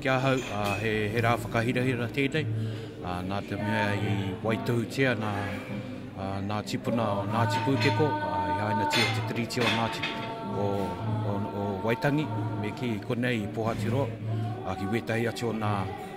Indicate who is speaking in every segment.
Speaker 1: ki ahau, uh, he, he rā whakahirahira tēnei. Uh, nā te mea i waitohutia nā, uh, nā tipuna o Ngāti Pūteko, uh, i haina tia te tiriti o Ngāti o, o, o Waitangi, me ki konei i Pōhatiroa, uh, ki wētahi atu o nā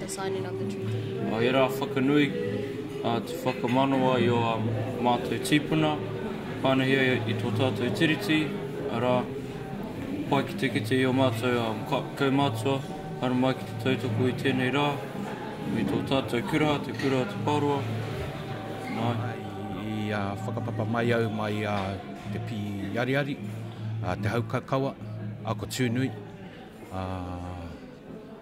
Speaker 1: the signing of the treaty. Nō ērā whakanui atu whakamanawa i ō mātou tīpuna, pānuhia i tō tātou Tiriti, arā, pai ki te kite i ō mātou kaumātua haere mai ki te tautoko i tēnei rā, me tō tātou kura, te Kura o Te Pāroa, nā, i whakapapa mai au mai a Te Pīariari, a Te Haukakawa, a Ko Tūnui, a.